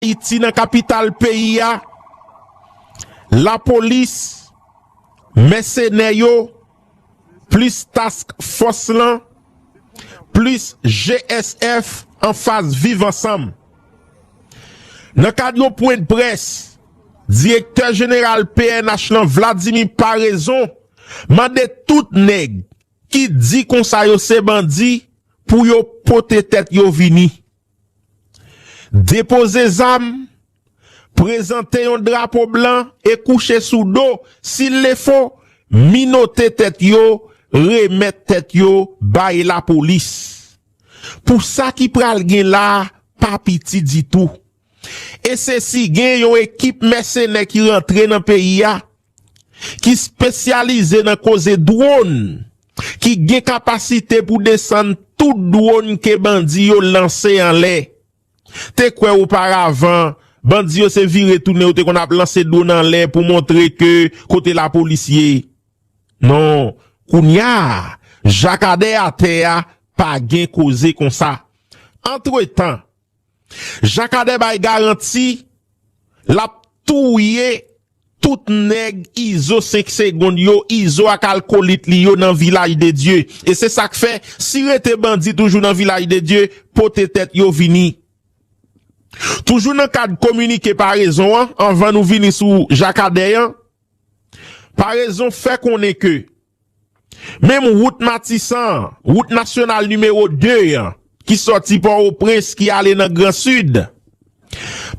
Ayiti nan kapital peyi a, lapolis, mèsenè yo, plis task fòs lan, plis GSF anfas viv ansanm. Nan kad yon pwendprès, direktè jeneral pnh lan Vladimir Paraison mande tout nèg ki di konsa yo se bandi pou yo pote tèt yo vini. Depoze zam, prezante yon drapo blan e kouche sou do, sil le fo, minote tèt yo, remèt tèt yo bay lapolis. Pou sa ki pral gen la pa piti ditou. E se si gen yon ekip mèsenè ki rantre nan peyi a, ki spesyalize nan koze dwon, ki gen kapasite pou desann tout dwon ke bandi yo lanse anlè. Te kwè oparavan, bandi yo se vire tounen yo te konn ap lanse dwon anlè pou montre ke kote lapolis ye. Non, kounya, jakadè atè a pa gen koze konsa. Antretan, Jakadè bay garanti lap touye tout nèg izo 5 segond yo izo ak alkolit li yo nan vilaj de Dye e se sak fè si rete bandi toujou nan vilaj de Dye pote tèt yo vini toujou nan kad kominike parezon an anvan nou vini sou jakadè an parezon fè konnen ke Menm wout Matisan an, wout nasyonal nimewo 2 an, ki sòti Pòwoprens ki ale nan Gran Sid.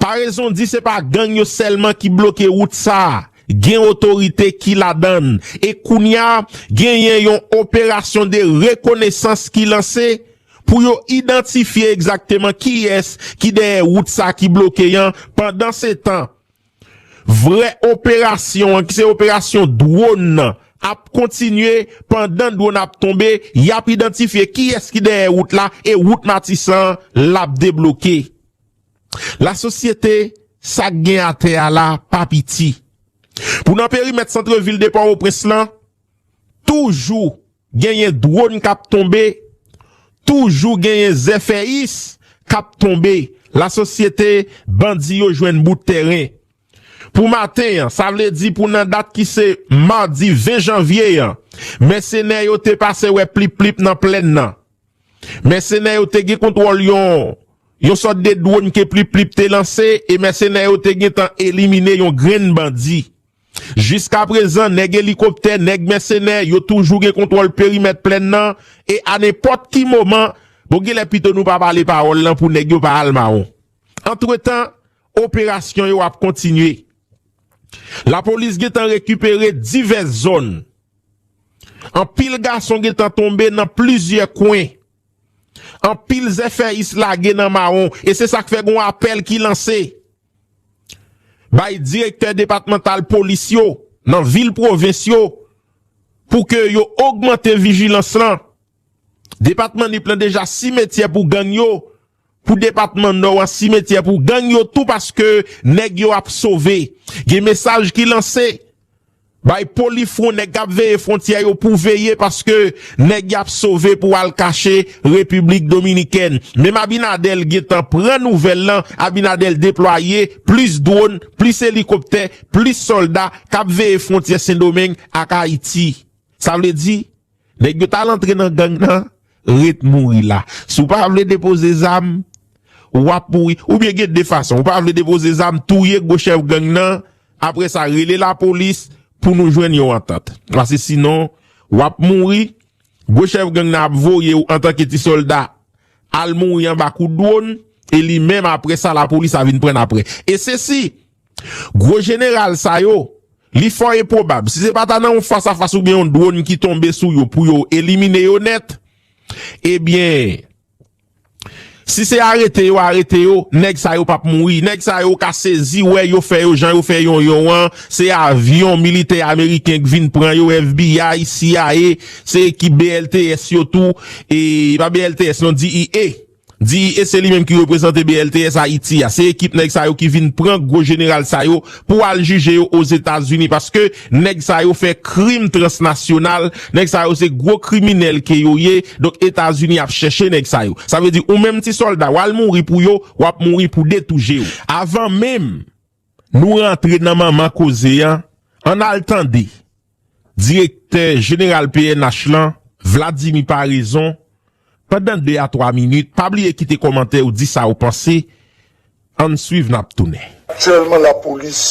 Paraison di se pa gang yo sèlman ki bloke wout sa, gen otorite ki ladan l e kounya genyen yon operasyon de rekonesans ki lanse pou yo idantifye egzakteman kiyès ki dèyè wout sa ki bloke an pandansetan Vrè operasyon an ki se operasyon dwon nan ap kontinye, pandan dwon ap tonbe yap idantifye kiyès ki dèyè wout la e wout Matisan an lap debloke. La sosyete sak gen atè a la pa piti. Pou nan perimèt santrevil de Pòwoprens lan, toujou Genyen dwon kap tonbe, toujou genyen zèfèyis kap tonbe lasosyete bandi yo jwenn bout tèren pou maten an sa vle di pou nan dat ki se madi 20 janvye an mèsenè yo te pase wè plip plip nan plèn nan mèsenè yo te gen kontwòl yon yon sòt de dwon ke plip plip te lanse e mèsenè yo te gentan elimine yon grenn bandi Jiska prezan, nèg elikoptè, nèg mèsenè, yo toujou gen kontwòl perimèt plèn nan, e a nenpòt ki moman, bon gen lè pito nou pa pale pawòl lan pou nèg yo pa al mawon. Antretan, operasyon yo ap kontinye. Lapolis gen tan rekipere divès zòn. Anpil gason gen tan tonbe nan plizyè kwen. Anpil zèfèyis lage nan mawon, e se sa k fè gen yon apèl ki lanse. Bay direktè depatmantal polis yo nan vil pwovens yo pou ke yo ogmante vijilans lan. Depatman Nip lan deja simetyè pou gang yo, pou depatman Nò an simetyè pou gang yo tou paske nèg yo ap sove. Gen mesaj ki lanse Bay poli fron neg kap veye frontyè yo pou veye paske neg yap sove pou al kache repiblik dominikèn menm abinadel gentan pran nouvel lan abinadel deplwaye plis dron plis elikoptè plis solda kap veye frontyè sendomeng ak ayiti sa vle di Nèg yo tal antre nan gang nan ret mouri la. Si w pa vle depoze zam, w ap mouri. Oubyen gen 2 fason. Ou pa vle depoze zam, touye gwo chèf gang nan, apre sa rele lapolis pou nou jwenn yon antant. Pase sinon, w ap mouri, gwo chèf gang nan ap voye w antanke ti sòlda al mouri anba kout dwon, e li menm apre sa lapolis a vin pran n apre. E se si! Gwo jeneral sa yo, li fò enpwobab, si se pa ta nan yon fas a fas oubyen yon dwòn ki tonbe sou yo pou yo elimine yo nèt, ebyen, si se arete yo arete yo, nèg sa yo pap mouri. Nèg sa yo ka sezi wè yo fè yo jan yo fè Yonyon an, se avyon militè ameriken k vin pran yo, FBI, cia, se ekip BLTS yo tou, e pa BLTS non, DEA. Di e se li menm ki reprezante BLTS Haiti a. Se ekip nèg sa yo ki vin pran gwo jeneral sa yo pou al jije yo Ozetazini paske nèg sa yo fè krim transnasyonal, nèg sa yo se gwo kriminèl ke yo ye, donk Etazini ap chèche nèg sa yo. Sa vle di ou menm ti sòlda wal mouri pou yo, wap mouri pou 2 tou jew. Avan menm Nou rantre nan manman koze a, ann al tande Direktè Jeneral pnh lan, Vladimir Paraison, pandan 2 a 3 minit, pa bliye kite kòmantè ou di sa ou panse, ann swiv nap tounen. Aktyèlman lapolis,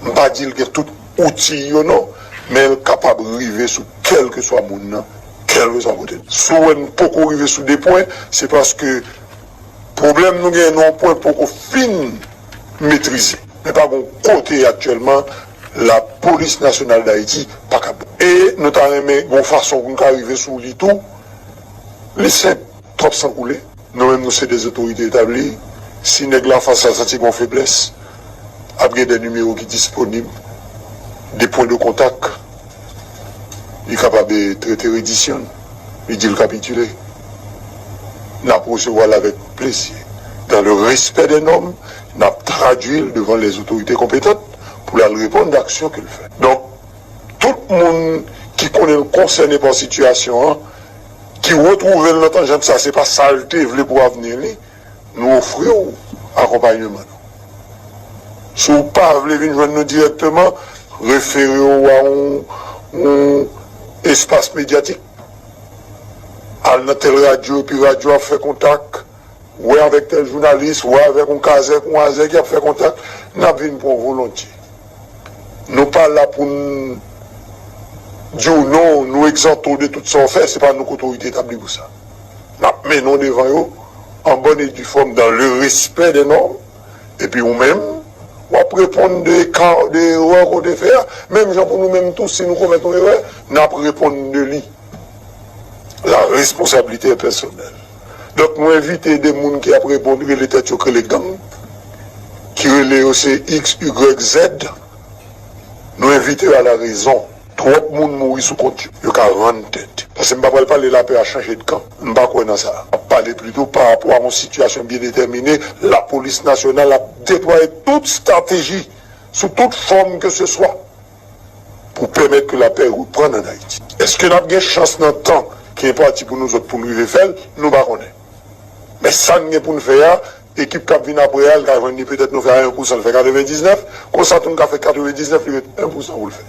m pa di l gen tout outi yo non, men l kapab rive sou kèlkeswa moun nan, kèlkeswa kote l. Si w wè n poko rive sou 2 pwen, se paske Pwoblèm nou genyen nan yon pwen poko fin metrize. Men pa gen yon kote aktyèlman Lapolis Nasyonal Dayiti pa ka bon. E nou ta renmen gen yon fason pou nou ka rive sou li tou. Li senp, twòp san koule. Nou menm nou se de zotorite etabli. Si nèg la fas la santi gen yon feblès, ap gen de nimewo ki disponib, de pwen de kontak Li kapab trete redisyon n, li di l kapitile. N ap resevwa l avèk plezi. Dan le respè dè nòm, n ap tradui l devan lè zotorite konpetant pou l al reponn dè aksyon ke l fè. Donk, tout moun ki konnen l konsène pa sitiyasyon an, ki retwouve l nan tanjant sa, se pa sa l te vle pou avni li, Nou ofri w akonpanyeman nou. Si w pa vle vin jwenn nou dirèkteman, refere w a yon espas medyatik. Al nan tèl radyo epi radyo a fè kontak, wè avèk tèl jounalis, wè avèk yon kazèk, yon azèk, y ap fè kontak, n ap vin pran w volontye. Nou pa la pou n di w non, nou egzante w de tout sa w fè, se pa nou k otorite etabli pou sa. N ap mennen w devan yo an bòn e di fòm dan le respè dè nòm, epi ou menm, w ap reponn de ka, de erè ke w te fè a, menm jan pou nou menm tou si nou komèt yon erè, n ap reponn de li. La responsabilité est personnelle. Donk nou envite de moun ki ap reponn rele tèt yo krele gang, ki rele yo se X, Y, Z, nou envite yo a la rezon. Twòp moun mouri sou kont yo. Yo ka rann tèt. Pase m pa pral pale lapè a chanje de kan. M pa kwè nan sa. M ap pale plito pa rapò a yon sitiyasyon byen detèmine, lapolis nasyonal ap deplwaye tout stateji sou tout fòm ke se swa pou pèmèt ke lapè reprann an Ayiti. Eske n ap gen chans nan tan ki enpati pou nou zòt pou n rive fè l? Nou pa konnen. Men sa n gen pou n fè a, ekip k ap vin apre a, l ka jwenn li petèt nou fè a 1 pousan l fè 99, konsa tou n ka fè 99 li ret 1 pousan pou l fè.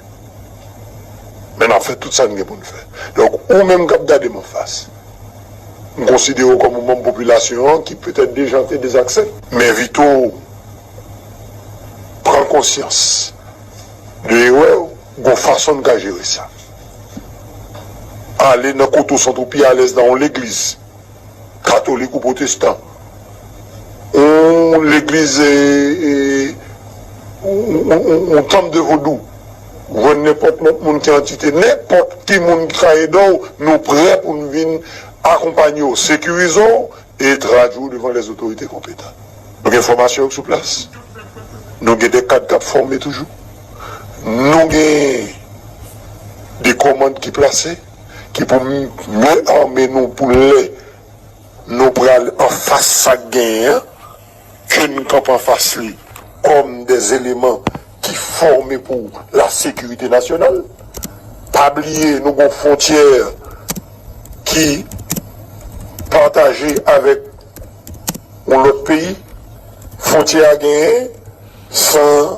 Men n ap fè tout sa n gen pou n fè. Donk ou menm k ap gade m anfas, m konsidere w kòm yon manm popilasyon an ki petèt dejante, dezakse. M envite w pran konsyans de erè w, gen yon fason n ka jere sa. Ale nan kote w santi w pi alèz nan yon legliz, katolik ou pwotestan, yon legliz, yon tanp de vodou, jwenn nenpòt lòt moun ki antite, nenpòt ki moun ki ka ede w, nou prè pou n vin akonpanye w, sekirize w e tradui w devan lèzotorite konpetan. Nou gen fòmasyon sou plas. Nou gen de kad k ap fòme toujou. Nou gen de kòmand ki plase ki pou mye ame nou pou lè nou pral anfas sa k genyen an, ke n kanpe anfas li kòm de eleman ki fòme pou la sekirite nasyonal. Pa bliye nou gen yon fwontyè ki pataje avèk yon lòt peyi, fwontyè a genyen san.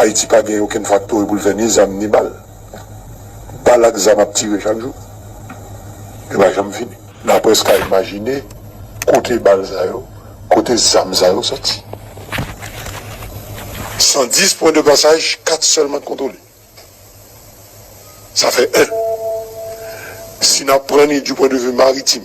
Ayiti pa gen okenn faktori pou l fè ni zam ni bal. Bal ak zam ap tire chak jou. Yo pa janm fini. Na prèske ka imajine kote bal sa yo, kote zam sa yo soti. 110 pwen de pasaj, 4 sèlman k kontwole. Sa fè 1. Si n ap pran ni di pwen de vi maritim,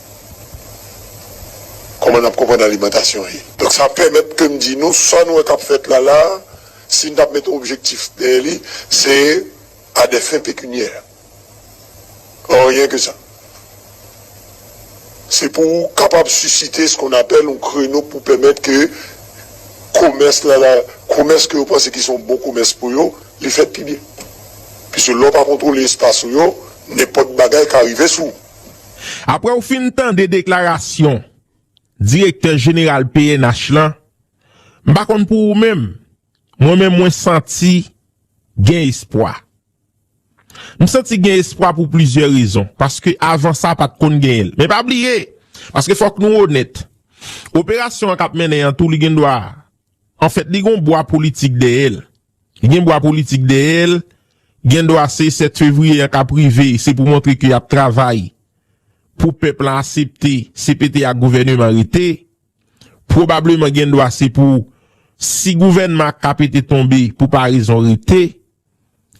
Kòman n ap konprann alimantasyon ye? Donk sa pèmèt ke m di nou, sa nou wè k ap fèt la la a, si n t ap mete objektif dèyè li, se a dè fen pekunyè. Anryen ke sa. Se pou kapab sisite skon apèl yon kreno pou pèmèt ke komès la la, komès ke yo panse ki se yon bon komès pou yo, li fèt pi byen. Piske lè w pa kontwole espas ou yo, nenpòt bagay ka rive sou ou. Aprè ou fin tande deklarasyon direktè jeneral pnh lan, m pa konn pou ou menm, mwen menm mwen santi gen espwa. M santi gen espwa pou plizyè rezon, paske avan sa pa t konn genyen l. Men pa bliye, paske fòk nou onèt, operasyon an k ap mennen an tou li gen dwa, anfèt li gen yon bwa politik dèyè l. Li gen bwa politik dèyè l, gen dwa se 7 fevriye an k ap rive se pou montre ke y ap travay pou pèp lan asepte CPT ak gouvèneman rete. Pwobableman gen dwa se pou si gouvènman ak KPT tonbe pou parezon rete.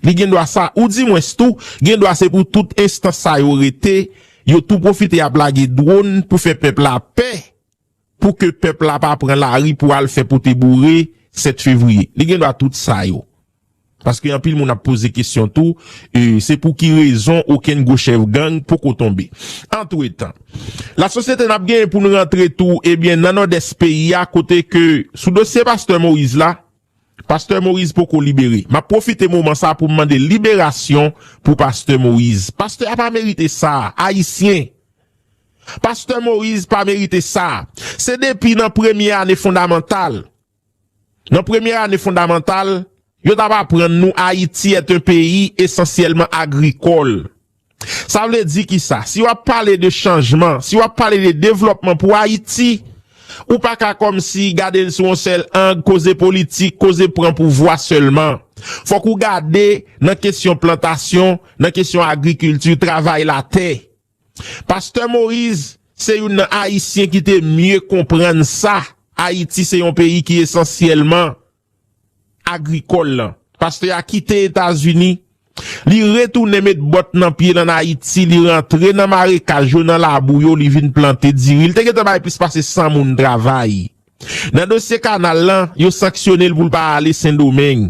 Li gen dwa sa ou di mwens tou gen dwa se pou tout enstans sa yo rete, yo tou pwofite ap lage dwon pou fè pèp la pè. pou ke pèp la pa pran lari pou al fè pote boure 7 fevriye. Li gen dwa tout sa yo. Paske anpil moun ap poze kesyon tou, se pou ki rezon okenn gwo chèf gang poko tonbe. Antretan, la sosyete nap genyen pou nou rantre tou ebyen nan Nòdès peyi a kote ke sou dosye pastè Moïse la, pastè Moïse poko libere. Map pwofite moman sa pou m mande liberasyon pou pastè Moïse. Pastè a pa merite sa, ayisyen. Pastè Moïse pa merite sa. Se depi nan premye ane fondamantal, nan premye ane fondamantal, yo tap aprann nou Ayiti est un peyi esansyèlman agrikòl. Sa vle di ki sa? Si wap pale de chanjman, si wap pale de devlòpman pou Ayiti, ou pa ka kòm si gade l sou yon sèl ang, koze politik, koze pran pouvwa sèlman. Fòk ou gade nan kesyon plantasyon, nan kesyon agrikilti, travay latè. Pastè Moise se youn nan Ayisyen ki te mye konprann sa Ayiti se yon peyi ki esansyèlman agrikòl lan. Pastè a kite Etazini, li retounen met bòt nan pye l ann Ayiti, li rantre nan marekaj yo, nan labou yo, li vin plante diri. Li te gentan bay plis pase 100 moun travay. Nan dosye kanal lan, yo sanksyone l pou l pa ale Sendomeng.